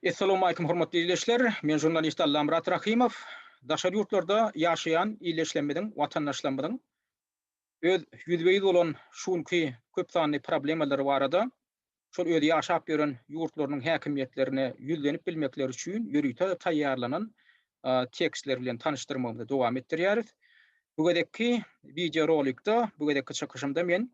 Essalamualeýkum hormatly ildeşler! Men žurnalist Allamyrat Rahymow. Daşary ýurtlarda ýaşaýan ildeşlerimiziň, watandaşlarymyzyň öz ýüzbe-ýüz bolan şu günki köp sanly problemalary barada, şol öz ýaşap ýören ýurtlarynyň häkimiýetlerine ýüzlenip bilmekleri üçin ýörite taýýarlanan tekstler bilen tanyşdyrmagymyzy dowam etdirýäris. Bu gezekki wideorolikda, bu gezekki çykyşymda men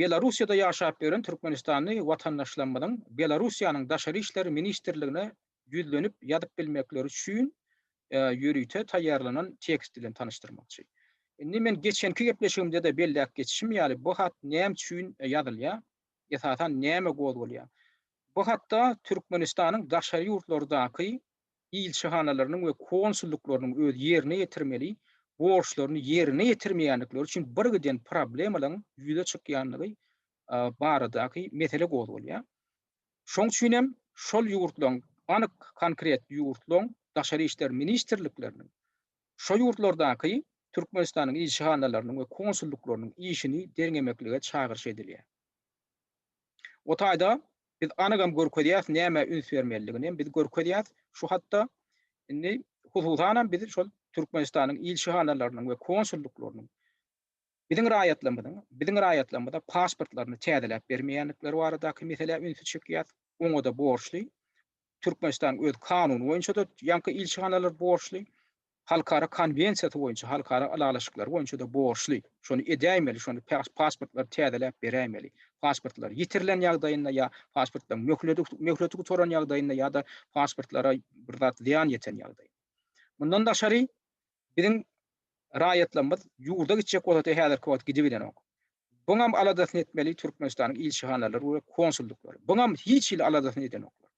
Belarussiýada ýaşap ýören türkmenistanly watandaşlarymyzyň Belarussiýanyň Daşary işler ministrligine ýüzlenip ýazyp bilmekleri üçin ýörite taýýarlanan tekst bilen tanyşdyrmakçy. Indi men geçenki gepleşigimde-de belläp geçişim ýaly, bu hat näme üçin ýazylýar, esasan näme gozgalýar? Bu hatda Türkmenistanyň daşary ýurtlardaky ilçihanalarynyň we konsullyklarynyň öz ýerine ýetirmeli borçlaryny ýerine ýetirmeýändikleri üçin birgiden problemalaryň ýüze çykýandygy baradaky mesele gozgalýar. Şoň üçin hem şol ýurtlaryň, anyk konkret ýurtlaryň daşary işler ministrlikleriniň şo ýurtlardaky Türkmenistanyň ilçihanalarynyň we konsullyklarynyň işini derňemeklige çagyryş edilýär. O taýda biz anygam görkezýäs nämä üns bermelidiginem biz görkezýäs şu hatda indi hususanam biz şol Türkmenistanyň ilçihanalarynyň we konsullyklarynyň biziň raýatlarymyzyň biziň raýatlarymyza pasportlaryny täzeläp bermeýändikleri baradaky meselä ünsi çekýäs oňada borçly Türkmenistan öz kanuny boýunçada ýaňky ilçihanalar borçly Halkara konwensiýasy boýunça halkara ylalaşyklary boýunça-da borçly, şony edäýmeli, şony pasportlary täzeläp beräýmeli. Pasportlar ýitirilen ýagdaýynda ýa pasportlaryň möhledi möhleti gutaran ýagdaýynda ýa-da pasportlara bir zat zyýan ýeten ýagdaýynda. Mundan daşary biziň raýatlarymyz ýurda gitjek bolsa-da häzirki wagt gidibilenok. Buňam aladasyny etmeli Türkmenistanyň ilçihanalary we konsuldyklary. Buňam hiç hili aladasyny edenoklar.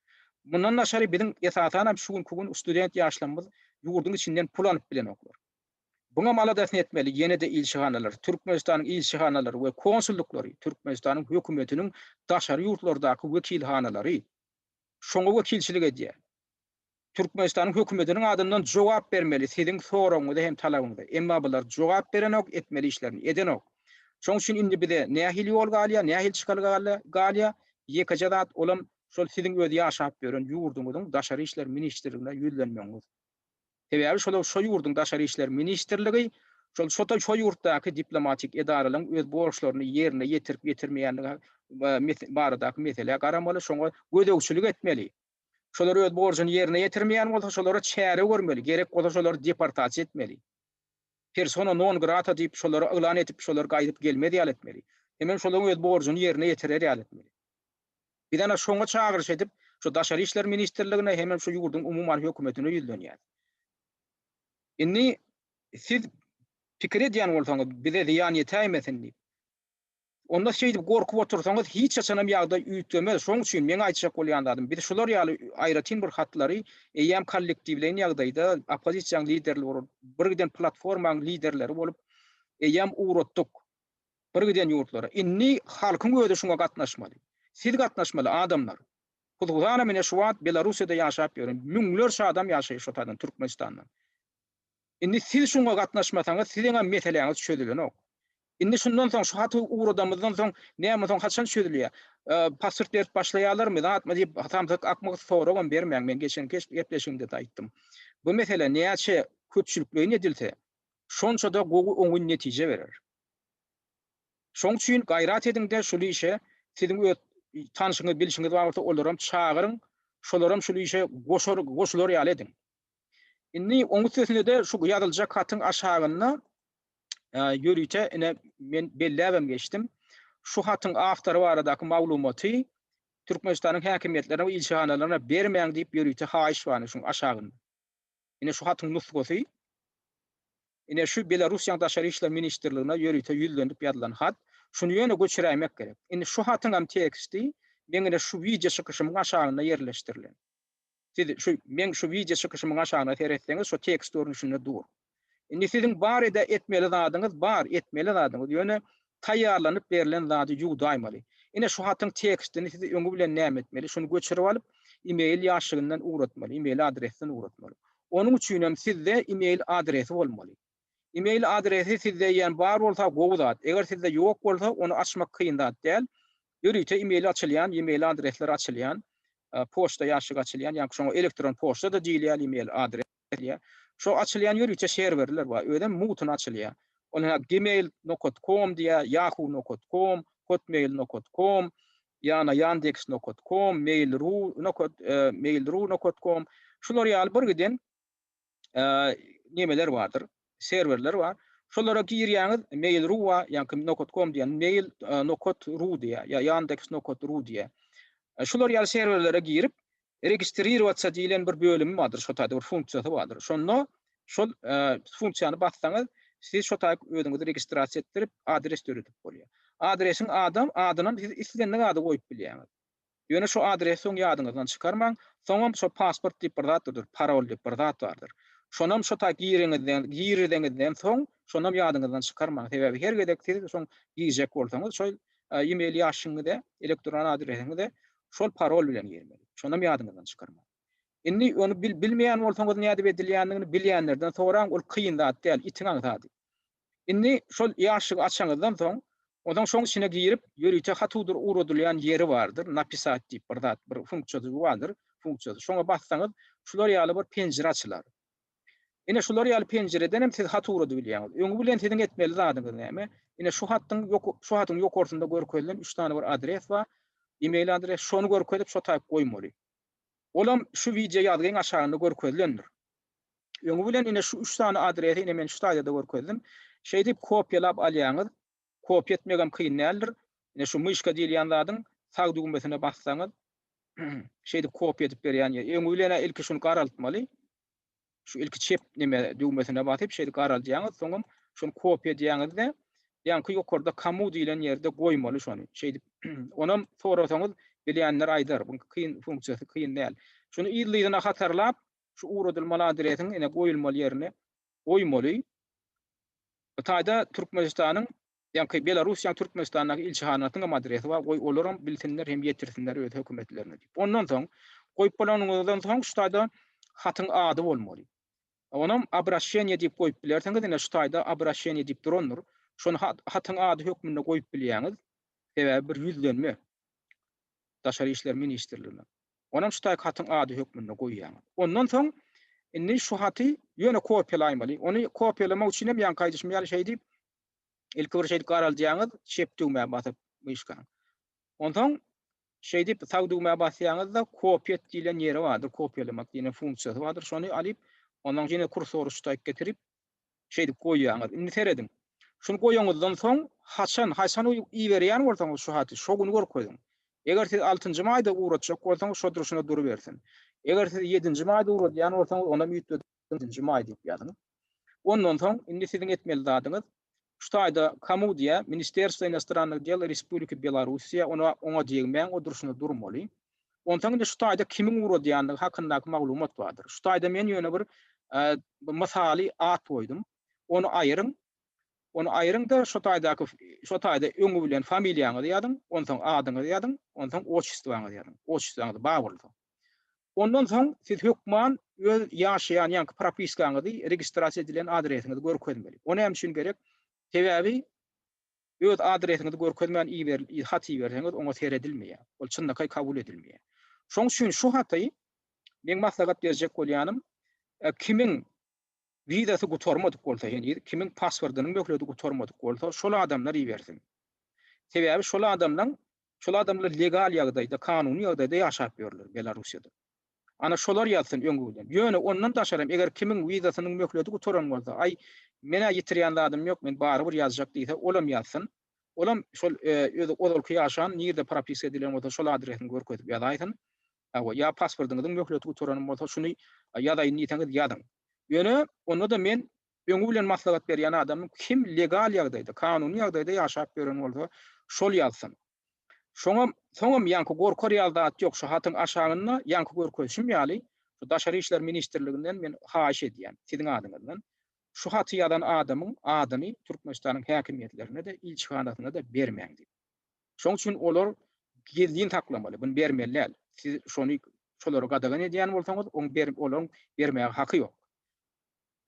Mundan daşary biziň esasanam şu günki gün student ýaşlarymyz ýurduň içinden pul alyp bilenoklar. Buňam aladasyny etmeli ýene-de ilçihanalary, Türkmenistanyň ilçihanalary we konsuldyklary, Türkmenistanyň hökümetiniň daşary ýurtlardaky wekilhanalary. Şoňa wekilçilik edýär. Türkmenistanyň hökümetiniň adyndan jogap bermeli siziň soragyňyza hem talabyňyza. Emma bular jogap berenok, etmeli işlerini edenok. Şoň üçin indi bize nähili ýol galýar, nähili çykalga galýar? Ýekeje zat, olam şol siziň öz ýaşap ýören ýurduňyzyň Daşary işler ministrligine ýüzlenmegiňiz. Sebäbi şolar şo ýurduň Daşary işler ministrligi şol şo ýurtdaky diplomatik edaralaryň öz borçlaryny ýerine ýetirip ýetirmeýändigi baradaky meselä garamaly, şoňa gözegçilik etmeli. Şolar öz borjuny ýerine ýetirmeýän bolsa, şolara çäre görmeli, gerek bolsa şolary deportasiýa etmeli. Persona non grata diýip şolary yglan edip, şolar gaýdyp gelmez ýaly etmeli. Hemem şolar öz borjuny ýerine ýetirer ýaly etmeli. Biz ana şoňa çagyryş edip, şu Daşary işler ministrligine hemem şu ýurduň umuman hökümetine ýüzlenýäs. Indi siz pikir edýän bolsaňyz, bize zyýan ýetäýmesin diýip. Onda şeýdip gorkup otursaňyz hiç haçanam ýagdaý üýtgemez. Şoň üçin meň aýtjak bolýan zadym, biz şular ýaly aýratyn bir hatlary eýýäm kollektiwleýin ýagdaýda oppozisiýaň liderleri bolup, birgiden platformaň liderleri bolup eýýäm ugratdyk birgiden ýurtlara. Indi halkyň özi şuňa gatnaşmaly. Siz gatnaşmaly adamlar. Huzhusanam ine şu wagt Belarussiýada ýaşap ýören müňlerçe adam ýaşaýar şo taýdan Türkmenistandan. Indi siz şuňa gatnaşmasaňyz siziňem meseläňiz çözülenok. Indi şundan soň şu haty ugradamyzdan soň näme soň haçan çözülýär? Pasport berip başlaýarlarmy, zatmy diýip samsyk akmak soragam bermäň men geçenki gepleşigimde-de aýtdym. Bu mesele näçe köpçülikleýin edilse şonça-da gowy oňyn netije berer. Şoň üçin gaýrat ediňde şul işe siziň öz tanşyňyz bilşiňiz bar bolsa olaram çagyryň şolaram şul işe goşar goşular ýaly ediň. Indi oň üstesine-de şu ýazyljak hatyň aşagynda ýörite ine men belläbem geçdim. Şu hatyň awtory baradaky maglumaty Türkmenistanyň häkimiýetlerine we ilçihanalaryna bermäň diýip ýörite haýyş bar şuň aşagynda. Ine şu hatyň nusgasy. Ine şu Belarussiýanyň Daşary işler ministrligine ýörite ýüzlenip ýazylan hat. Şuny ýöne göçüräýmek gerek. Indi şu hatyňam teksti meň ine şu wideo çykyşymyň aşagynda ýerleşdirilen. Siz şu meň şu wideo çykyşymyň aşagyna seretseňiz şu tekst görnüşinde dur. Indi siziň bar ede etmeli zadyňyz bar etmeli zadyňyz ýöne taýýarlanyp berlen zady ýuwdaýmaly. Ine şu hatyň tekstini siz öňi bilen näme etmeli şuny göçürip alyp email ýaşygyndan ugratmaly email adresden ugratmaly. Onuň üçinem sizde email adresi bolmaly. Email adresi sizde eýýäm bar bolsa gowy zat, eger sizde ýok bolsa ony açmak kyn zat däl. Ýörite email açylýan, email adresler açylýan, poçta ýaşigi açylýan, ýaňky şoňa elektron poçta-da diýilýär, email adres diýilýär. Şo açylýan ýörite serwerler bar, özem mugtuna açylýar. Ol hä gmail nokat kom diýýär, ýahu nokat kom, hotmail nokat kom, ýana ýandeks nokat kom, mail ru nokat, mail ru nokat kom. Şular ýaly birgiden. nemeler bardyr, serwerler bar. Şolara girýäňiz, Mail.ru bar, ýa-da Nokat.com diýen, Mail Nokat.ru diýýär, ýa Yandex Nokat.ru diýýär. Şular ýaly serwerlere girip, registririrowatsýa diýlen bir bölümi bardyr, şo taýda bir funksiýasy bardyr. Şonda şol funksiýany bassaňyz, siz şo taýda özüňizi registrasiýa etdirip, adres döredip bolýar. Adresiň adam, adynam siz islendik ady goýup bilýäňiz. Ýöne şu adresi soň ýadyňyzdan çykarmaň, soňam şo pasport diýip bir zat durdur, parol diýip bir zat bardyr. Şonam şo taý giriňizden, giriziňizden soň şonam ýadyňyzdan çykarmaň. Sebäbi her gezek siz soň girjek bolsaňyz şol e-mail ýaşyňyza, elektron adresiňize şol parol bilen girmeli. Şonam ýadyňyzdan çykarmaň. Indi ony bil-bilmeýän bolsaňyz nädip edilýändigini bilýänlerden soraň, ol kyn zat däl, itiň aňsady. Indi şol ýaşşygy açaňyzdan soň, ozaň şoň içine girip, ýörite hatudur ugradylýan ýeri bardyr, napisat diýip bir zat, bir funksiýajygy bardyr, funksiýasy. Şoňa bassaňyz, şular ýaly bir penjire açylar. Ine, şular ýaly penjireden hem siz hat ugradyp bilýäňiz. Öňi bilen siziň etmeli zadyňyz näme? Ine, şu hatdyň, şu hatyň ýokarsynda görkezilen üç sany bir adres bar, e-mail adres, şony görkezip, şo taýyp goýmaly. Olam şu wideo ýazgyň aşagynda görkezilendir. Öňi bilen ine şu üç sany adresi ine men şu slaýda-da görkezdim. Şeýdip kopiýalap alýaňyz. Kopiýa etmegem kyn däldir. Ine şu myşka diýilýän zadyň sag düwmesine bassaňyz şeýdip kopiýa edip berýän. Öňi bilen-ä ilki şuny garaltmaly. Şu ilki çep neme düwmesine basyp şeýdip garaldýaňyz. Soňam şuny kopiýa edýäňiz-de ýaňky ýokarda kamu diýlen ýerde goýmaly şony. Şeýdip onam sorasaňyz bilýänler aýdar. Bunuň kyn funksiýasy kyn däl. Şuny yzly-yzyna hatarlap Şu ugradylmaly adresiň ine goýulmaly ýerine goýmaly. Hytaýda Türkmenistanyň, ýaňky Belarussiýanyň Türkmenistandaky ilçihanasynyň hem adresi bar, goý olaram bilsinler hem ýetirsinler öz hökümetlerine diýip. Ondan soň, goýup bolanyňyzdan soň şu taýda hatyň ady bolmaly. Onam Abraşeniýe diýip goýup bilersiňiz, ine şu taýda Abraşeniýe diýip durandyr. Şony hatyň ady hökmünde goýup bilýäňiz. Sebäbi bir ýüzlenme Daşary işler ministrligine. Onam şu taýky hatyň ady hökmünde goýýan. Ondan soň indi şu haty ýöne kopiýalaýmaly. Ony kopiýalamak üçin hem ýaňky aýdyşym ýaly şeýdip, ilki bir şeýdip garaldýaňyz, Shift düwmä basyp myşkaň. Onsoň şeýdip sag düwmä basýaňyzda kopiýet diýlen ýeri bardyr, kopiýalamak diýen funksiýasy bardyr. Şony alyp, ondan ýene kursory şu taýk getirip, Şeýdip goýýaňyz. Indi serediň. Şuny goýanyňyzdan soň, haçan, haýsany iberýän bolsaňyz şu haty, şo güni görkeziň. Eger siz altynjy maýda ugratjak bolsaňyz, şo durşuna durubersin. Eger siz ýedinji maýda ugradýan bolsaňyz, onam üýtgedip ýedinji maý diýip ýazyň. Ondan soň, indi siziň etmeli zadyňyz, Şu taýda Kamudia, Ministerstvo inostrannych del Respubliki Belorussiýa ona oňa degmäň o durşuna durmaly. Onsaň indi şu taýda kimiň ugradýandygy hakyndaky maglumat bardyr. Şu taýda men ýöne bir mysaly at goýdum. Ony aýyryň. Ony aýyryňda şu taýdaky şu taýda öňi bilen familiýaňyzy ýazyň, onsaň adyňyzy ýazyň, onsaň otçestwaňyzy ýazyň. Otçestwaňyz bar bolsa. Ondan soň siz hökman öz ýaşaýan ýaňky propiskaňyzy, registrasiýa edilen adresiňizi görkezmeli. O näme üçin gerek? Sebäbi öz adresiňizi görkezmän iberilen hat iberseňiz, oňa seredilmeýär. Ol çynlakaý kabul edilmeýär. Şonuň üçin şu haty meň maslahat berjek bolýanym, kimiň wizasy gutarmadyk bolsa heniz, kimiň paswordynyň möhleti gutarmadyk bolsa, şol adamlar ibersin. Sebäbi şol adamlaň Şol adamlar legal ýagdaýda, kanuny ýagdaýda ýaşap ýörler Belarussiýada. Ana şolar ýazsyn öňki bilen. Ýöne ondan daşaram eger kimiň wizasynyň möhledi gutaran bolsa, aý, men-ä ýitirýän zadym ýok, men barybir ýazjak diýse, olam ýazsyn. Olam şol özi ozalky ýaşan, nirde propiska edilen bolsa şol adresini görkezip ýazaýsyn. Hawa, ýa pasportyňyzyň möhleti gutaran bolsa şuny ýazaýyn diýseňiz ýazyň. Ýöne onda-da men Öňi bilen maslahat berýän adamyň kim legal ýagdaýda, kanuny ýagdaýda ýaşap ýören bolsa, şol ýazsyn. Şoňam, soňam ýaňky gorkar ýaly zat ýok, şu hatyň aşagynda ýaňky görkezişim ýaly, şu Daşary işler ministrliginden men haýyş edýän, siziň adyňyzdan, şu haty ýazan adamyň adyny Türkmenistanyň häkimiýetlerine-de, ilçihanasyna-da bermäň diýip. Şoň üçin olar gizlin saklamaly, muny bermeli däl. Siz şony şolary gadagan edýän bolsaňyz, oň ber, olaryň bermäge haky ýok.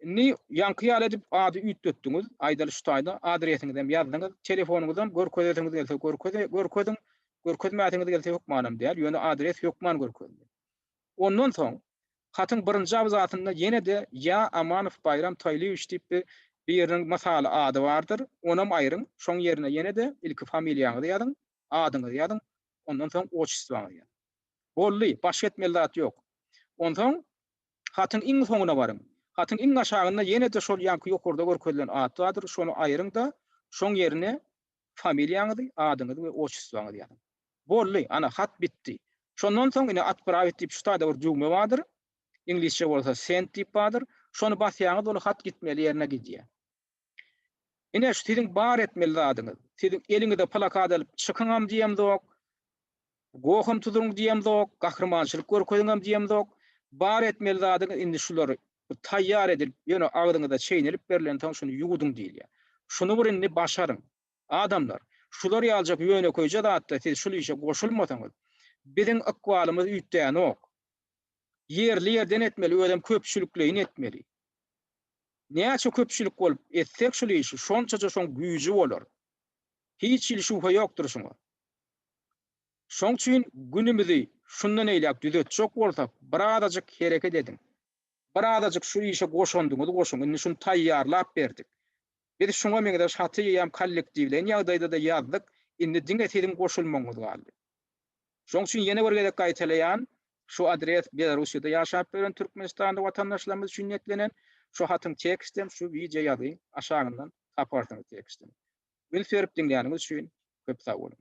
Indi ýaňky ýaly edip ady üýtgetdiňiz, aýdaly şu taýda adresiňizem ýazdyňyz, telefonyňyzam görkezesiňiz gelse görkeziň, görkezmäsiňiz gelse hökmanam däl, ýöne adres hökman görkezdi. Ondan soň hatyň birinji abzasynda ýene-de ýa Amanow Baýram Taýlyýewiç diýip bir biriniň mysaly ady bardyr, onam aýryň, şoň ýerine ýene-de ilki familiýaňyzy ýazyň, adyňyzy ýazyň, ondan soň otçestwaňyzy ýazyň. Boldy, başga etmeli zat ýok. Onsoň Hatyň iň soňuna baryň. Hatyň iň aşagynda ýene-de şol ýaňky ýokarda görkezilen at bardyr, şony aýryň-da, şoň ýerine familiýaňyzy, adyňyzy we otçustwaňyzy ýazyň. Boldy, ana, hat bitdi. Şondan soň ine Atprawit diýip şu taýda bir düwme bardyr, iňlisçe bolsa Send diýip bardyr. Şony basýaňyz, ol hat gitmeli ýerine gidýär. Ine, şu siziň bar etmeli zadyňyz. Siziň eliňize plakat alyp çykyňam diýemzok, goham tuzuň diýemzok, gahrymançylyk görkeziňem diýemzok. Bar etmeli zadyňyz indi şular taýýar edilip, ýöne agzyňyza çeýnelip berlensoň şuny ýuwudyň diýilýär. Şuny bir indi başaryň. Adamlar, şular ýalyjak ýönekeýje zatda siz şul işe goşulmasaňyz, biziň ykbalymyz üýtgänok. ýerli ýerden etmeli özem köpçülikleýin etmeli. Näçe köpçülik bolup etsek şul işi şonçaja şoň güýji bolar. Hiç hili şübhe ýokdur şuňa. Şoň üçin günümizi şundan eýläk düzetjek bolsak birazajyk hereket ediň. Birazajyk şu işe goşandyňyz goşuň indi şuny taýýarlap berdik. Biz şuňa meňzeş haty eýýäm kollektiwleýin ýagdaýda-da ýazdyk indi diňe siziň goşulmagyňyz galdy. Şoň üçin ýene bir gezek gaýtalaýan, şu adres Belarussiýada ýaşap ýören türkmenistanly watandaşlarymyz üçin niýetlenen, şu hatyň tekstem şu wideo ýazy aşagyndan taparsyňyz tekstem. Üns berip diňläniňiz üçin köp sag boluň.